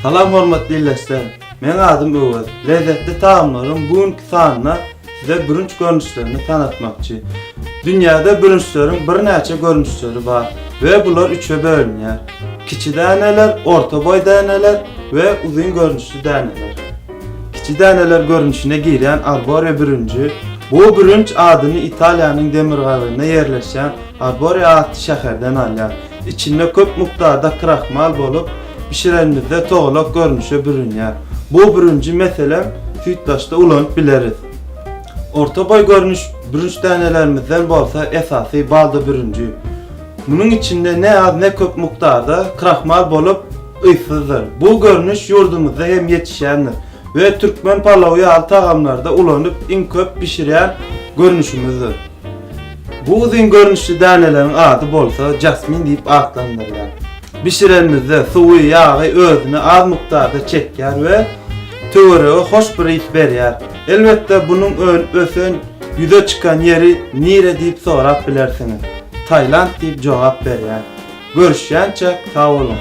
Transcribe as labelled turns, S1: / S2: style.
S1: Salam hormatly ildeşler! Meň adym Öwez. Lezzetli tagamlaryň bu günki sanyna Size bürünç görnüşlerini tanatmakçy. Dünýäde bürünçleriň birnäçe görnüşleri bar we bular üçe bölünýär. Kiçi däneler, orta boý däneler we uzyn görnüşli däneler. Kiçi däneler görnüşine girýän Arborea bürünji, bu bürünç adyny Italiýanyň demirgazygynda ýerleşýän Arborea atly şäherden alýar. Içinde köp mukdarda krahmal bolup, bişirenimizde togalak görnüşe bürünýär. Bu bürünji meselem süýtlaçda ulanyp bileris. Orta boý görnüş bürünç dänelerimizden bolsa esasy balda bürünji. Munuň içinde ne az ne köp mukdarda krahmal bolup, yzsyzdyr. Bu görnüş ýurdumyzda hem ýetişýändir we türkmen palawy ýaly tagamlarda ulanyp iň köp bişirýän görnüşimizdir. Bu uzyn görnüşli däneleriň ady bolsa jasmin diýip atlandyrylýar. Bişirenimizde suwy, ýagy özüne az mukdarda çekýär we töwerege hoş bir ys berýär. Elbetde bunuň ösen ýüze çykan ýeri nire diýip sorap bilersiňiz. Tailand diýip jogap berýän. Görüşýänçäk sag boluň.